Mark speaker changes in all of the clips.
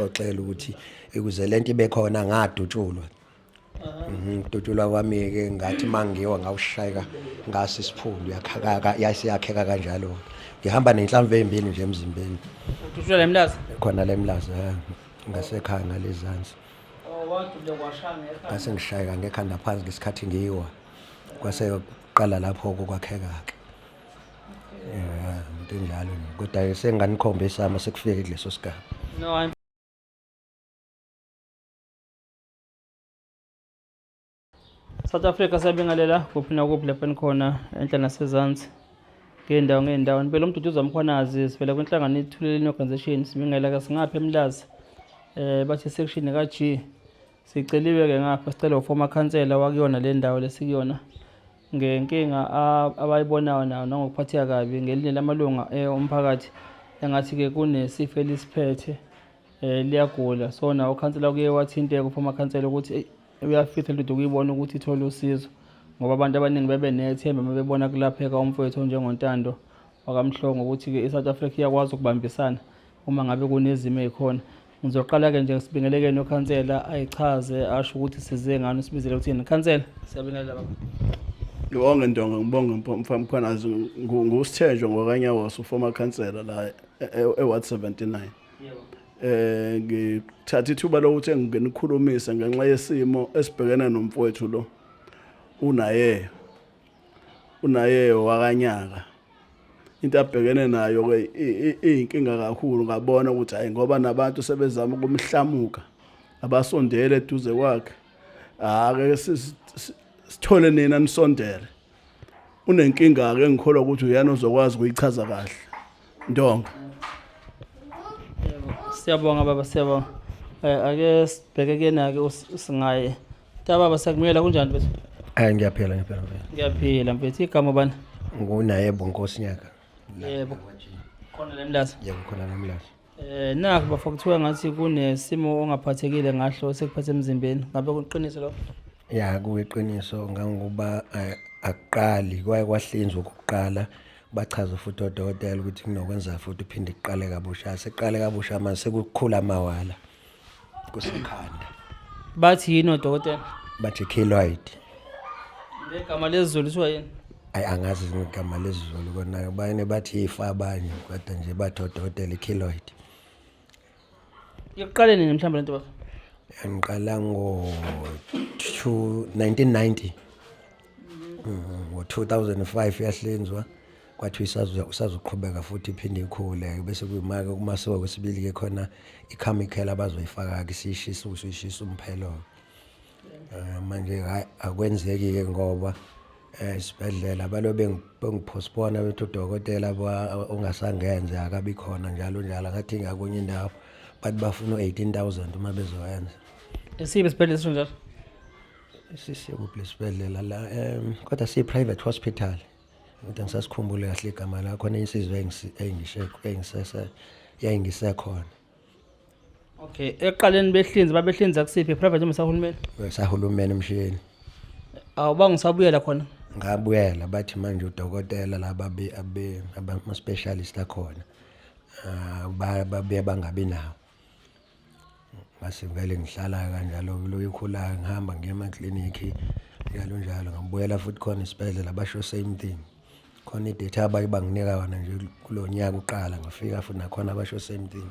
Speaker 1: xoxela ukuthi ukuze lento ibe khona ngadutshulwa ngidutshulwa mhm, kwami ke ngathi mangiwa ngawushayeka ngasi isiphundu yakhaka yasiyakheka kanjalo ngihamba nenhlamvu ezimbili nje emzimbeni udutshulwa lemlaza
Speaker 2: khona lemlaza
Speaker 1: ngasekhaya ngalezansi
Speaker 2: oh, ngase ngishayeka ngekhanda
Speaker 1: phansi ngesikhathi ngiyiwa kwase qala lapho kokwakheka ke Yeah, into enjalo nje. Kodwa senganikhomba isama sekufike kuleso sigaba. No,
Speaker 2: I'm South Africa siyabingelela kuphi nakuphi lapho enikhona enhla nasezansi ngey'ndawo ngey'ndawo impela umduduza mkhwanazi sivela kwinhlangano ithuleleni organisation sibingelela ke singaphi emlazi eh bathi section ka G siceliwe ke ngapha sicela uformer khansela wakuyona le ndawo lesikuyona ngenkinga abayibonayo nayo nangokuphatheka kabi ngelinye lamalunga eh, omphakathi engathi-ke kunesifo elisiphethe um liyagula so nawo ukhansela kuye wathinteka uphuma khansela ukuthi uyafitha lento ukuyibona ukuthi ithole usizo ngoba abantu abaningi bebe nethemba uma bebona kulapheka umfowethu onjengontando wakamhlongo ukuthi-ke i-south africa iyakwazi ukubambisana uma ngabe kunezimo ey'khona Ngizoqala-ke nje sibingelekeni ukhansela ayichaze asho ukuthi size ngani usibizele ukuthini khansela siyabingelela baba ngibonge
Speaker 3: ndonga ngibonge mfamkhwanazi ngusithenjwa ngwakanyawoso uformer khansela la eward e,
Speaker 2: e 79 eh
Speaker 3: ngithatha ithuba lokuthi enginikhulumise ngenxa yesimo esibhekene nomfowethu lo unaye unaye wakanyaka into abhekene nayo ke iyinkinga kakhulu ngabona ukuthi hayi ngoba nabantu sebezama ukumhlamuka abasondele eduze kwakhe ake sithole nina nisondele unenkinga ke ngikholwa ukuthi uyena ozokwazi ukuyichaza kahle ndonga
Speaker 2: siyabonga baba siyabonga eh, ake sibheke kena ke singaye Ta baba sakumela kunjani mfethu? Hayi ngiyaphila ngiyaphila
Speaker 1: mfethu. Ngiyaphila
Speaker 2: mfethu igama bani? Ngunayebo
Speaker 1: Nkosi Nyaka. Yebo.
Speaker 2: Khona lemlaza. Yebo khona lemlaza.
Speaker 1: Eh nakho bafa kuthiwa
Speaker 2: ngathi kunesimo ongaphathekile ngahlo sekuphathe emzimbeni. Ngabe kuqinise lokho? Ya kuyiqiniso
Speaker 1: ngangokuba eh, akuqali kwaye kwahlinzwa ukuqala bachaza futhi odokotela ukuthi kunokwenza futhi uphinde kuqale kabusha seqale kabusha manje sekukhula amawala kusekhanda
Speaker 2: bathi yini odokotela bathi keloid ngegama lezulu kuthiwa yini ayi angazi
Speaker 1: ngegama lezulu kona bayene bathi ifa abanye kodwa nje bathi odokotela i-keloid
Speaker 2: iqale nini mhlawumbe lento baba yangiqala
Speaker 1: ngo 1990 Mm, ngo-2005 yahlinzwa kwathiwa isazo- isazoqhubeka futhi iphinde ikhule bese kuyimake kumasiwa kwesibili-ke khona ikhamikhela abazoyifaka-ke siyishisa usu ishisa umphelo-ke Eh, manje hhayi akwenzeki-ke ngoba um isibhedlela balo bengi- bengiphosphona bethi udokotela ba- ongasangenze akabi khona njalo njalo angathi ngakunye indawo bathi bafuna u-eighteen thousand uma bezoyenza Esibe
Speaker 2: sibhedlela sinjalo.
Speaker 1: sisekuphi lesibhedlela la um kodwa siyi-private hospital kodwa ngisasikhumbule kahle igama la khona insizwa yayingisekhona
Speaker 2: okay ekuqaleni behlinzi babehlinza kusiphi private noma sahulumeni sahulumeni
Speaker 1: emshiyeni awuba
Speaker 2: ngisabuyela khona ngabuyela bathi
Speaker 1: manje udokotela laba ama-specialist akhona ah, babuye bangabi nawo ngase ngivele ngihlala kanjalo kuloyo ikhulayo ngihamba ngiye emaklinikhi njalo njalo ngibuyela futhi khona isibhedlela basho same thing khona idata abaye banginika yona nje kulo nyaka uqala ngafika futhi nakhona basho same thing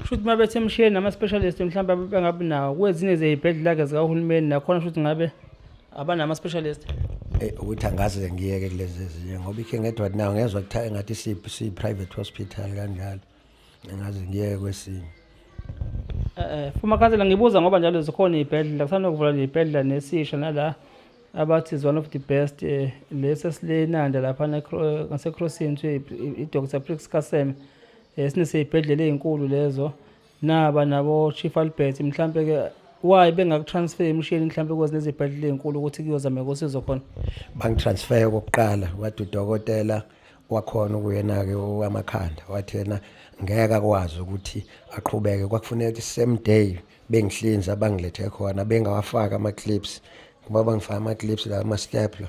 Speaker 2: shuthi uma bethe emshiyeni nama-specialist mhlawumbe bengabi nawo kwezinye zeyibhedlela-ke zikahulumeni nakhona shuthi ngabe abanama specialist eh, ukuthi angaze
Speaker 1: ngiyeke kulezi ezinye ngoba ikhe ngedwa nawo ngezwa kuthiwa engathi si private hospital kanjalo ngaze ngiyeke kwesinye eh,
Speaker 2: eh fuma khansela ngibuza ngoba njalo zikhona izibhedlela kusanokuvula izibhedlela nesisha nala abathi is one of the best eh, lesi esilenanda lapha ngasecrossini kuthiwa i-doctor prix kaseme um sineseyibhedlela ey'nkulu lezo naba nabo chief albert mhlampe ke why bengakutransfer emishini mhlampe kwazi nezibhedlela ezinkulu ukuthi kuyozameka usizo khona bangitransfer
Speaker 1: kokuqala wathi udokotela wakhona ukuyena-ke owamakhanda wathi yena ngeke akwazi ukuthi aqhubeke kwakufuneka i-same day bengihlinza bangilethe khona bengawafaki ama-clips ngoba bangifaka ama-clips la ama-stapler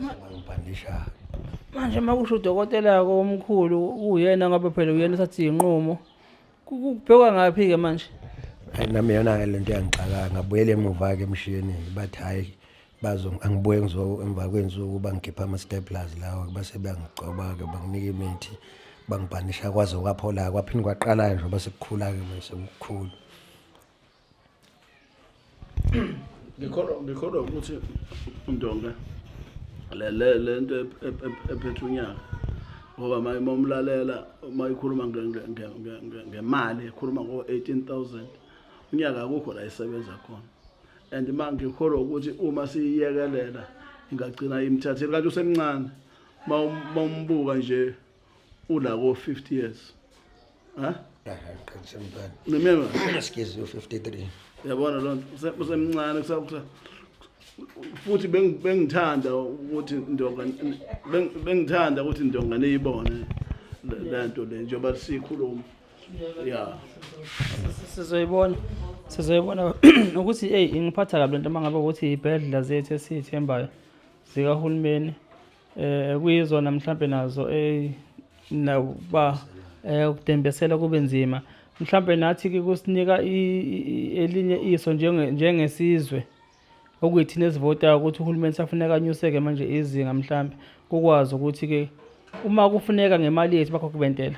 Speaker 1: bayobhandisha manje uma
Speaker 2: kusho udokotela-ke omkhulu uyena ngoba phela uyena esathi yinqumo kubhekwa ngaphi-ke manje hayi nami yona-ke
Speaker 1: le nto yangixaka ngabuyela emuva-ke emshiyeni bathi hhayi angibuye emva kwensuku bangikhipha ama-staplers lawa base beyangigcoba-ke banginika imithi bangibhanisha kwaze kwaphola-ke kwaphinde kwaqala-ke nje base kukhula-ke manje sekukhulu
Speaker 3: ngikholwa ngikholwa ukuthi undonga le le le nto ephethe unyaka ngoba uma uma umlalela uma ikhuluma ngemali ekhuluma ngo-18000 unyaka akukho la isebenza khona and uma ngikholwa ukuthi uma siyiyekelela ingagcina imthathile kanti usemncane uma umbuka nje ula ko 50 years ha
Speaker 1: qinisa mntwana neminyaka ngesigezi
Speaker 3: yo 53
Speaker 1: yabona lonto
Speaker 3: usemncane kusakusa futhi bengithanda ukuthi ndonga bengithanda ukuthi ndonga niyibone lento le njengoba sikhuluma ya sizoyibona
Speaker 2: sizoyibona ukuthi hey ingiphatha kabi lento mangabe ukuthi ibhedlela zethu esithembayo zikahulumeni eh kuyizona mhlambe nazo eh nakuba eh ukudembesela kube nzima mhlambe nathi ke kusinika elinye iso njenge njengesizwe okuyithina esivotayo ukuthi uhulumeni safuneka anyuseke manje izinga mhlambe kukwazi ukuthi ke uma kufuneka ngemali yethu bakho kubentela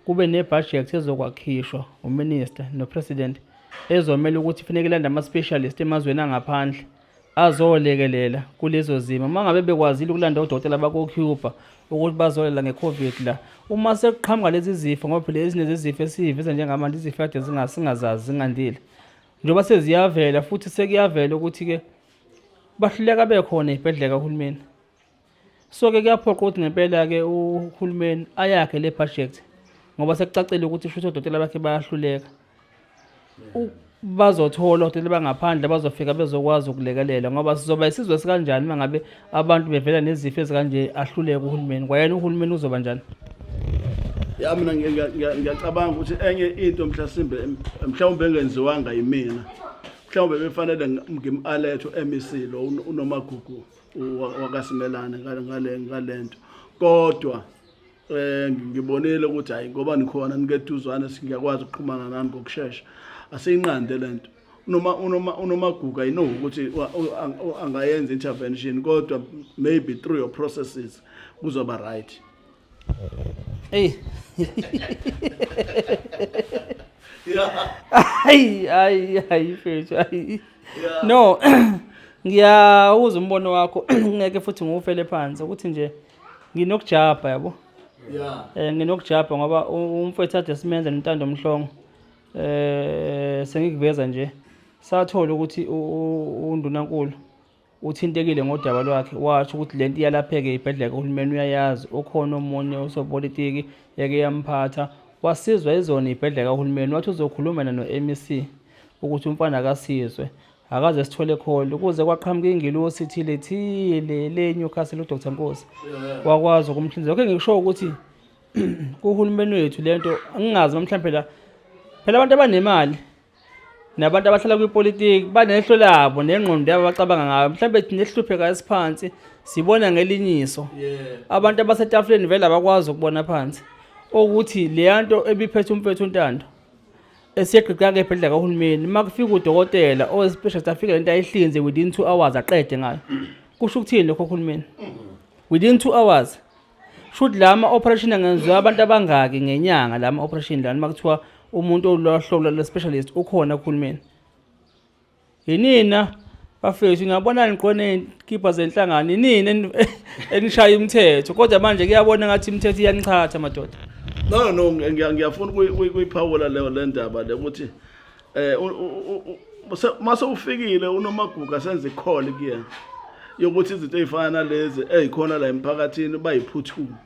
Speaker 2: kube nebudget ezokwakhishwa uminister nopresident ezomela ukuthi funeka ilanda ama-specialist emazweni angaphandle azolekelela kulezo zimo uma ngabe bekwazile ukulanda odokotela bakocuba ukuthi bazolela nge-covid la uma sekuqhamuka lezi zifo ngoba phela ezinye zezifo esiyiveza njengamanje izifo kade singazazi zingandile njengoba seziyavela futhi sekuyavela ukuthi-ke bahluleka bekhona ey'bhedlela kahulumeni so ke kuyaphoqa ukuthi ngempela-ke uhulumeni ayakhe le project ngoba sekucacile ukuthi shuthi odokotela bakhe bayahluleka bazothola odokotela bangaphandle bazofika bezokwazi ukulekelela ngoba sizoba isizwe sikanjani uma ngabe abantu bevela nezifo ezikanje ahluleke uhulumeni kwayena uhulumeni uzoba njani
Speaker 3: ya mina ngiyacabanga ukuthi enye into mhlasimbe mhlawumbe engenziwanga yimina mhlawumbe befanele ngim-aletho emc lo unomagugu wakasimelane ngale ngalento kodwa eh ngibonile ukuthi hayi ngoba nikhona nikeduzane singiyakwazi ukuxhumana nani ngokusheshsha asiyinqande lento unoma unoma unomaguga ino ukuthi angayenza intervention kodwa maybe through your processes kuzoba right Ey.
Speaker 2: Ay ay ay mfethu ay. No. Ngiyawuza umbono wakho ngeke futhi ngiwufele phansi ukuthi nje nginokujabha yabo. Yeah. Eh nginokujabha ngoba u- umfethu ade simenze nentando mhlongo. Eh sengikuveza nje. Sathola ukuthi u- u- undunankulu Uthintekile ngodaba lwakhe washo ukuthi le nto iyalapheke ibhedlela kahulumeni uyayazi ukhona omunye osopolitiki yake yamphatha wasizwa izona ibhedlela kahulumeni wathi uzokhulumela no-mec ukuthi umfana akasizwe akaze sithole kholo kuze kwaqhamuka ingilosi thile thile le newcastle udr nkosi wakwazi ukumhlinzela okhe ngikushoyo ukuthi kuhulumeni wethu le nto angingazi uma mhlawumbe phela phela abantu abanemali nabantu abahlala kwipolitiki banehlo labo nengqondo yabo abacabanga ngayo mhlawumbe thina esihlupheka esiphansi sibona ngelinyiso abantu abasetafuleni vele abakwazi ukubona phansi okuthi leya nto ebiphethe umfethu untando esiyegqigqaka ebhedlela kahulumeni uma kufika udokotela owesipeshist afike le nto ayihlinze within two hours aqede ngayo kusho ukuthini lokho uhulumeni within two hours shuthi la ma-operation angenziwa abantu abangaki ngenyanga la ma-operation lani uma kuthiwa umuntu olwahlobo lwe-specialist ukhona kuhulumeni yinina bafethu ngiyabonani qona eyinkibha zenhlangano yinini enishaya umthetho kodwa manje kuyabona ngathi imithetho iyaniqhatha madoda no no
Speaker 3: ngiyafuna ukuyiphawula leyo le ndaba le ukuthi eh mase ufikile unomaguga senze call kuyena yokuthi izinto ezifana nalezi ezikhona la emphakathini bayiphuthuma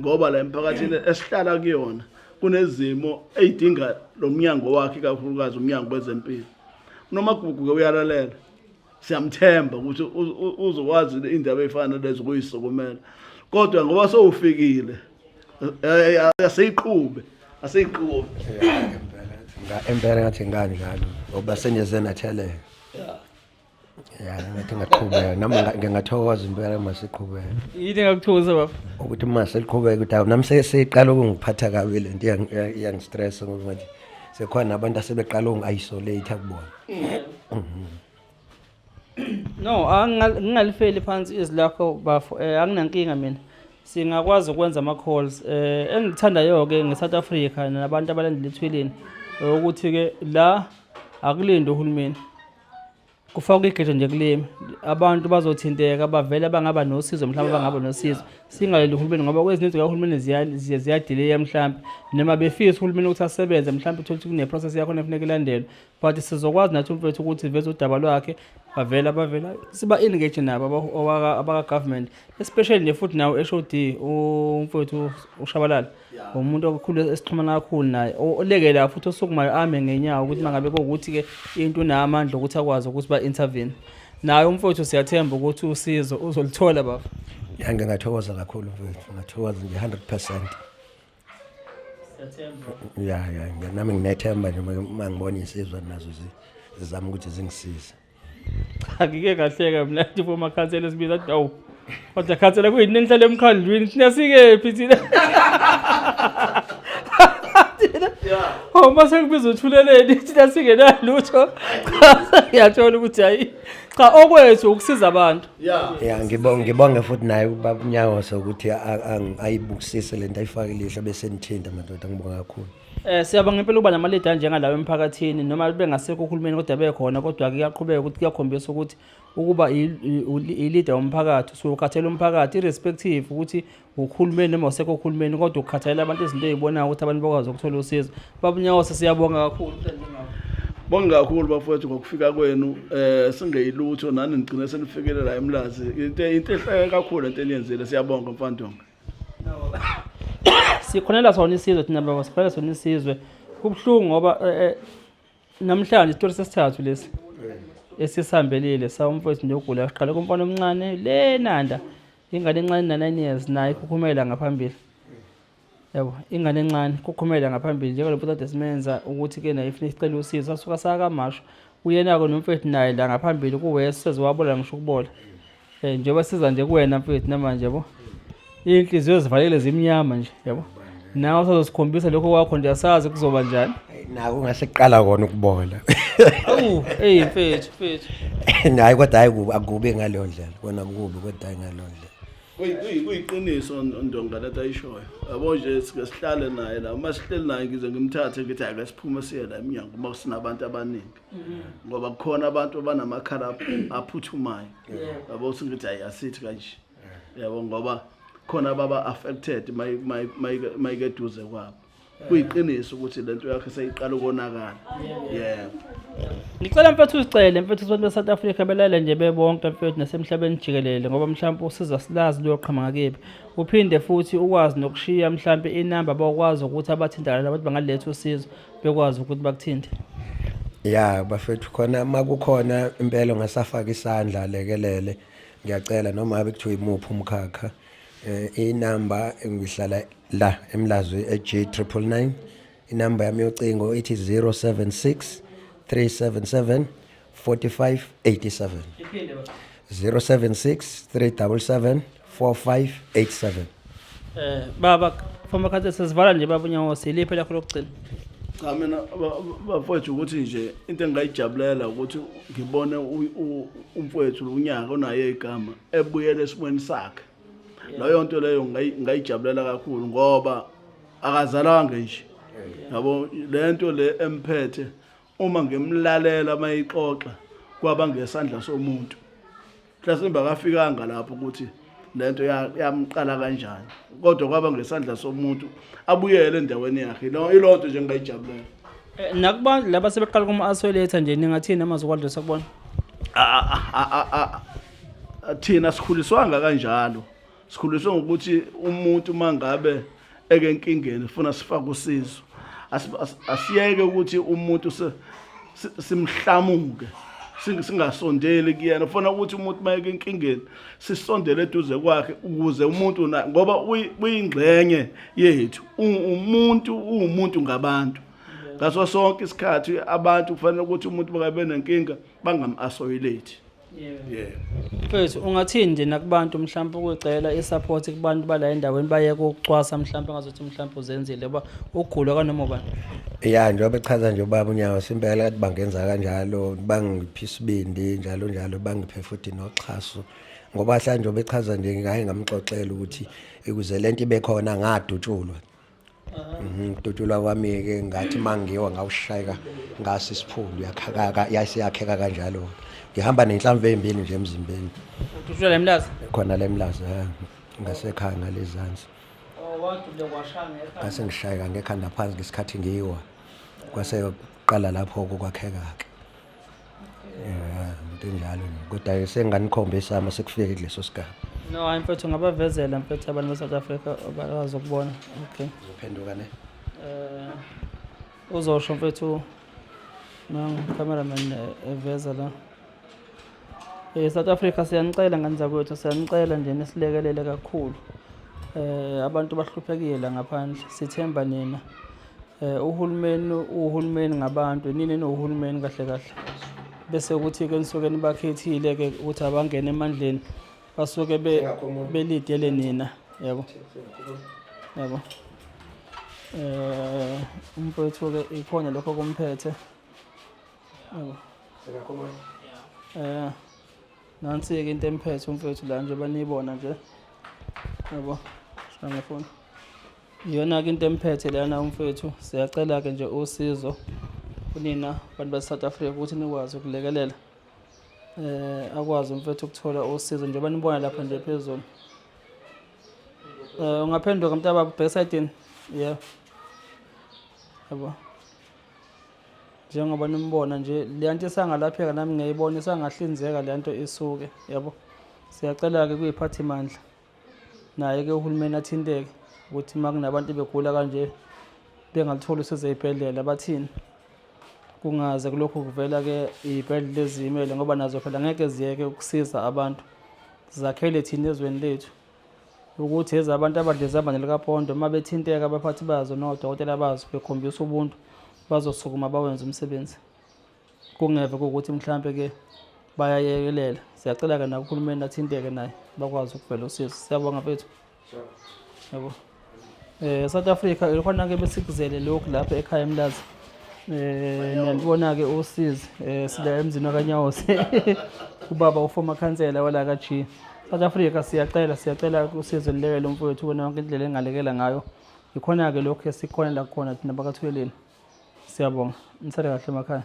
Speaker 3: ngoba la emphakathini esihlala kuyona kunezimo ezidinga lo mnyango wakhe kakhulukazi umnyango wezempilo unomagugu ke uyalalela siyamthemba ukuthi uzokwazi indaba eyifana lezo kuyisokumela kodwa ngoba sowufikile eh, eh, aseyiqhube aseyiqhube
Speaker 1: impela ngathi ngani ngalo ngoba senjeze natheleka ya ngathi ngaqhubeka nami ngingathokoza impela uma siqhubeka yini engakuthokoza
Speaker 2: baba ukuthi uma seliqhubeka
Speaker 1: ukuthi awu nami seyiqala ukungiphatha kabi le nto iyangistressa ngoba manje sekhona nabantu asebeqala ungi-isolate kubona
Speaker 2: no ngingalifeli phansi izwi lakho bafo um eh, anginankinga mina singakwazi ukwenza ama-calls um eh, engikuthandayo-ke nge-south africa nabantu abalandela ethweleni ukuthi-ke la akulinde uhulumeni kufakwa igejo nje kulimi abantu bazothinteka bavele bangaba nosizo mhlawumbe bangaba nosizo singaleli uhulumeni ngoba kwezininzi zikahulumeni ziye ziyadileya mhlawumbe noma befisa uhulumeni ukuthi asebenze mhlawumbe uthole ukuthi kuneprocess yakhona efuneka ilandelwe but sizokwazi nathi umfethu ukuthi veze udaba lwakhe bavela bavela siba-engage nabo abaka-government especially nje futhi nawo-h o d umfethu ushabalala umuntu okukhulu esixhumana kakhulu naye olekela futhi osukumayo ame ngenyawo ukuthi mangabe kokuthi-ke into unamandla okuthi akwazi ukuthi ba-intervene naye umfowethu siyathemba ukuthi usizo uzolithola baba ya ngingathokoza
Speaker 1: kakhulu mfowethu ngathokoza nje hundred percent
Speaker 2: ya ya nami nginethemba
Speaker 1: nje uma ngibona insizwa nazo zizama ukuthi zingisize cha ngike
Speaker 2: ngahleka mina nje uma khansela sibiza athi awu kodwa khansela kuyini nenihlale emkhandlwini thina sikephi thina thina oh mase kubiza uthuleleni thina singenalutho cha ngiyathola ukuthi hayi cha okwethu ukusiza abantu ya ngibonge
Speaker 1: ngibonge futhi naye ubaba unyawo sokuthi a- a- ayibukisise lento ayifakile ihlo bese nithinta madoda ngibonga kakhulu Eh siyabonga impela uba
Speaker 2: namaledi anjengalawo emphakathini noma bengasekho uhulumeni kodwa bekhona kodwa ke kuyaqhubeka ukuthi kuyakhombisa ukuthi ukuba i-leader womphakathi usuke ukhathela umphakathi irrespective ukuthi uhulumeni noma usekho uhulumeni kodwa ukukhathalela abantu izinto ezibonayo ukuthi abantu bakwazi ukuthola usizo babunyawosa siyabonga kakhulu bonga
Speaker 3: kakhulu bafowethu ngokufika kwenu eh singeyilutho nani nigcine senifikelela emlazi into into ehleke kakhulu into eniyenzile siyabonga mfandonga
Speaker 2: sikhonela sona isizwe thina baba sikhonela sona isizwe kubuhlungu ngoba eh, eh, namhlanje isitori sesithathu lesi esisihambelile sawumfowethu nje ogula siqale kumfana omncane le nanda ingane encane na-nine years naye ikhukhumela ngaphambili yabo ingane encane ikhukhumela ngaphambili njengalo mfowethu ade simenza ukuthi-ke naye ifuna isicela usizo sasuka sakamasho uyena-ke nomfowethu naye la ngaphambili kuwesi seziwabola ngisho ukubola Eh njengoba siza nje kuwena mfethu namanje yabo. Inhliziyo zivalekile zimnyama nje yabo. Nawe usazosikhombisa lokho kwakho nje asazi kuzoba njani. Naku ngase kuqala
Speaker 1: kona ukubola. Awu, hey
Speaker 2: mfethu, mfethu.
Speaker 1: Hayi kodwa hayi kubi akubi ngaleyo ndlela. Kona kubi kodwa hayi ngaleyo ndlela. Kuyi- kuyi- kuyiqiniso
Speaker 3: on- ndonga lento ayishoyo yabo nje sike sihlale naye la uma sihleli naye ngize ngimthathe ngithi ake siphume siye la emnyango uma sinabantu abaningi mm-hmm. ngoba kukhona abantu abanamakhala aphuthumayo yabo uthi ngithi hayi asithi kanje yabo ngoba khona baba affected mayikeduze kwabo kuyiqiniso ukuthi lento yakhe seyiqala ukonakala yebo
Speaker 2: ngicela mfethu uzicele mfethu abantu be-south africa belale nje bebonke mfethu nasemhlabeni jikelele ngoba mhlawumpe usiza silazi luyoqhama ngakephi uphinde futhi ukwazi nokushiya mhlawumpe inamba bakwazi ukuthi abathintana abantu bangaletha usizo bekwazi ukuthi bakuthinte ya
Speaker 1: bafethu khona uma kukhona impela ongasafaka isandla alekelele ngiyacela noma abe kuthiwa imuphi umkhakha um inamba ngihlala la emlazwi e-g triple nine inamba yami yocingo ithi 076 377 4587 076 377 4587 Eh
Speaker 2: baba former council sesivala nje baba unyawose iliphi lakho lokugcina cha mina
Speaker 3: ba- ba- bafowethu ukuthi nje into engingayijabulela ukuthi ngibone u- u- umfowethu unyaka onaye igama ebuyele esimweni sakhe leyo nto leyo ngayi- ngayijabulela kakhulu ngoba akazalanga nje yabo le nto le emphethe uma ngimlalela mayixoxa kwaba ngesandla somuntu mhlasimbe akafikanga lapho ukuthi lento yamqala kanjani kodwa kwaba ngesandla somuntu abuyele endaweni yakhe ilonto nje ngingayijabulela eh, nakuba
Speaker 2: laba sebeqala kuma asweletha nje ningathini amazwi kwadlisa kubona
Speaker 3: thina sikhuliswanga kanjalo sikhuliswe ngokuthi umuntu uma ngabe eke enkingeni funa sifake usizo asiyeke ukuthi umuntu simhlamuke singasondeli kuyena ufuna ukuthi umuntu uma eke enkingeni sisondele eduze kwakhe ukuze umuntu ngoba uyingxenye yethu umuntu uwumuntu ngabantu ngaso sonke isikhathi abantu kufanele ukuthi umuntu bakabe nenkinga bangam-asoyilate
Speaker 2: yebo mfethu ungathini nje nakubantu mhlawumpe ukucela i-support kubantu bala endaweni bayeke ukucwasa mhlawumpe ngazothi mhlawumpe uzenzile uba ugulwa kanoma ubani ya njengoba
Speaker 1: echaza nje ubaba unyawo simpela kathi bangenza kanjalo bangiphi isibindi njalo njalo bangiphe futhi noxhaso ngoba hla njengoba echaza nje ngaye ngamxoxela ukuthi ikuze le nto ibe khona ngadutshulwa ukudutshulwa mhm, kwami-ke ngathi uma ngiwa ngawushayeka ngase isiphundu yaseyakheka kanjalo ngihamba nenhlamvu ey'mbili nje emzimbeni udutshulwa le mlaza
Speaker 2: khona le mlaza
Speaker 1: ngasekhaya ngalezansi oh,
Speaker 2: ngase ngishayeka ngekhanda
Speaker 1: phansi ngesikhathi ngiyiwa kwase kuqala lapho kokwakheka-ke Yeah, into enjalo nje. Kodwa senganikhombisa ama sekufike kuleso sigaba. no hayi mfethu
Speaker 2: ngabavezela mfethu abantu be-south africa bakwazi ukubona okay Uzophenduka ne.
Speaker 1: Eh,
Speaker 2: uzosho mfethu nocameraman eh, eveza la Eh, south africa siyanicela ngani zakwethu siyanicela nje nisilekelele kakhulu um abantu bahluphekile la ngaphandle sithemba nina Eh, uhulumeni uhulumeni ngabantu nini nohulumeni kahle kahle bese ukuthi ke nisuke nibakhethile ke ukuthi abangene emandleni basuke belidele nina yabo yabo eh umfowethu ke ikhona lokho kumphethe yabo eh nansi ke into emphethe umfowethu la nje banibona nje yabo sangafona Iyona-ke into emphethe lana umfethu, siyacela-ke nje usizo kunina bantu base-South Africa ukuthi nikwazi ukulekelela eh akwazi umfethu ukuthola usizo njengoba nibona lapha nje phezulu. Eh ungaphenduka mntababa ubheka esayidini? Yeah. Yabo. Njengoba nimbona nje le nto isangalapheka nami ngiyayibona isangahlinzeka le nto isuke yabo. Siyacela-ke kuyiphathimandla. naye-ke uhulumeni athinteke ukuthi uma kunabantu begula kanje bengalutholi usizo ey'bhedlela bathini kungaze kulokhu kuvela-ke iy'bhedlela eziyimele ngoba nazo phela ngeke ziyeke ukusiza abantu zakhele thina ezweni lethu ukuthi eza abantu abadleza abane likapondo uma bethinteka abaphathi bazo nodokotela bazo bekhombisa ubuntu bazosukuma bawenze umsebenzi kungeve kokuthi mhlawumbe ke bayayekelela siyacela ke nakuhulumeni athinteke naye bakwazi ukuvela usizo siyabonga bethu yabo eh South Africa ikhona ke besikuzele lokhu lapha ekhaya emlazi eh niyalibona ke usizi eh sila emzini wakanyawose ubaba uformer councillor wala ka G South Africa siyacela siyacela usizo lilekele umfowethu ubona yonke indlela engalekela ngayo ikhona ke lokhu esikhona la khona thina bakathuleleni Siyabonga. Nisale kahle emakhaya.